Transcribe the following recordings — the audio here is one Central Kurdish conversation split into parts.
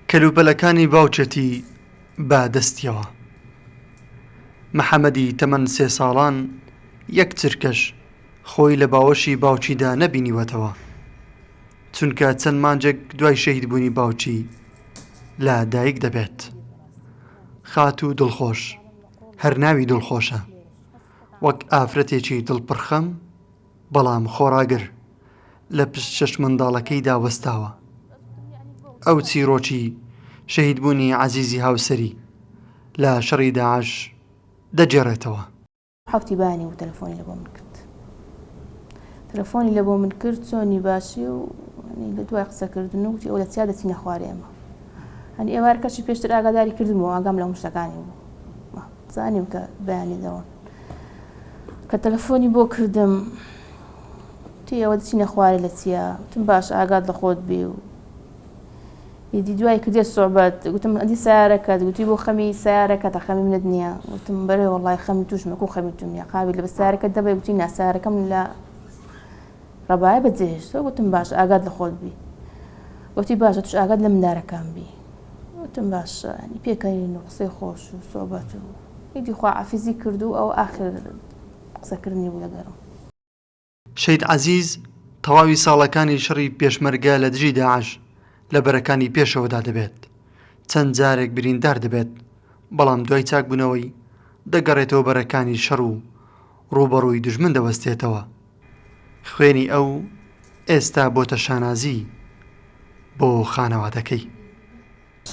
کەلوپەلەکانی باوکێتی بە دەستیەوە. محەمەدی تەمەن سێ ساڵان یەک چرکەش خۆی لە باوەشی باوکیدا نەبینیوەتەوە، چونکە چەند مانگێک دوای شەهیدبوونی باوکی لە دایک دەبێت. خاتوو دڵخۆش، هەر ناوی دڵخۆشە، وەک ئافرەتێکی دڵپڕخەم، بەڵام خۆڕاگر لە پشت شەش منداڵەکەیدا وەستاوە. ئەو چیرۆکی شەهیدبوونی عەزیزی هاوسەری لە شەڕی داعش دەگێڕێتەوە. حەوتی بانی بوو تەلەفۆنی لە بۆ من کرد تەلەفۆنی لە بۆ من کرد چۆنی باشی و لە دوای قسەکردن و گوتی ئەو لە چیا دەچینە خوارێمە هەنی ئێوارکەشی پێشتر ئاگاداری کردمەوە ئاگام لە مشتەکانی بوو زانیم کە بەیانی دەڕۆن کە تەلەفۆنی بۆ کردم تی ئەوە دچینە خوارێ لە چیە تم باش ئاگات لە خۆت بێ و ئیدی دوای کردێت سوعبەت گوتم ئەدی سیارەکەت گوتی بۆ خەمی سیارەکە تا خەمی منت نییە گوتم بەرێ وڵی خەمی توشمەکو خەمی تونیە قاوی لە بە سیارەکە دەبێ گوتی ناسیارەکەم لە ڕەبایە بە جێهێشتەوە گوتم باش ئاگات لە خۆت بی گوتی باشە توش ئاگات لە مندارەکان بی گوتم باشە ینی پێکەنین و قسەی خۆش و سۆبەت و هیچی خواعافیزی کرد و ئەو ئاخر قسەکردنی بوو لەگەرم. شەید عەزیز تەواوی ساڵەکانی شەڕی پێشمەرگە لە دژی داعش لە بەرەکانی پێشەوەدا دەبێت، چەند جارێک بریندار دەبێت، بەڵام دوای چاکبوونەوەی دەگەڕێتەوە بەرەکانی شەڕ و ڕووبەڕووی دوژمن دەوەستێتەوە، خوێنی ئەو ئێستا بۆتە شانازی بۆ خانەوادەکەی.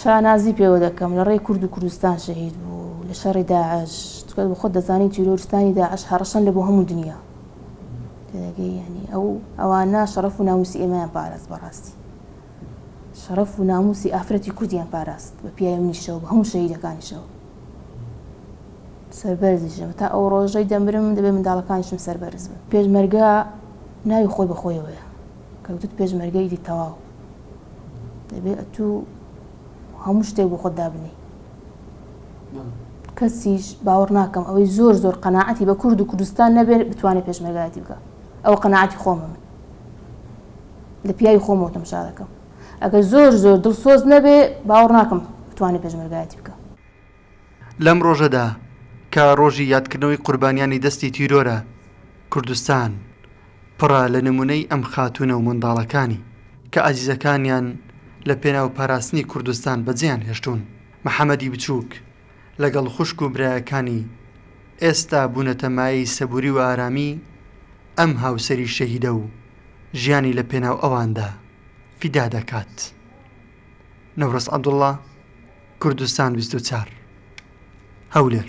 شانازی پێوە دەکەم لە ڕێی کورد و کوردستان شەهید بوو لە شەڕی داعش چونکە بە خۆت دەزانی تیرۆرستانی داعش هەڕەشەن لە بۆ هەموو دنیا تێدەگەی یانی ئەو ئەوانە شەڕەف و ناموسی ئێمەیان پاراست بەڕاستی شەڕەف و ناموسی ئافرەتی کوردیان پاراست بە پیاوی منیشەوە بە هەموو شەهیدەکانیشەوە. سەربەرزیشم تا ئەو ڕۆژەی دەمرم دەبێ منداڵەکانیشم سەربەرز بن پێشمەرگە ناوی خۆی بەخۆیەوەیە کەوتت پێشمەرگە ئیدی تەواو دەبێ ئەتو هەموو شتێک بۆ خۆت دابنی کەسیش باوەڕ ناکەم ئەوەی زۆر زۆر قەنەعەتی بە کورد و کوردستان نەبێت بتوانێت پێشمەرگایەتی بکە ئەو قەنەعەتی خۆمە من لە پیاوی خۆمەوە تەمشا دەکەم ئەگەر زۆر زۆر دڵسۆز نەبێ باوەڕ ناکەم بتوانێ پێشمەرگایەتی بکا. لەم ڕۆژەدا کە ڕۆژی یادکردنەوەی قوربانیانی دەستی تیرۆرە، کوردستان پڕە لە نمونەی ئەم خاتوونە و منداڵەکانی کە ئازیزەکانیان لە پێناو پاراستنی کوردستان بەجێیان هێشتوون. محەمەدی بچووک لەگەڵ خوشک و برایەکانی ئێستا بوونەتە مایەی سەبووری و ئارامی ئەم هاوسەری شەهیدە و ژیانی لە پێناو ئەواندا. فیدا دەکات. نەورۆز عەبدوڵا، کوردستان بیست و چوار، هەولێر.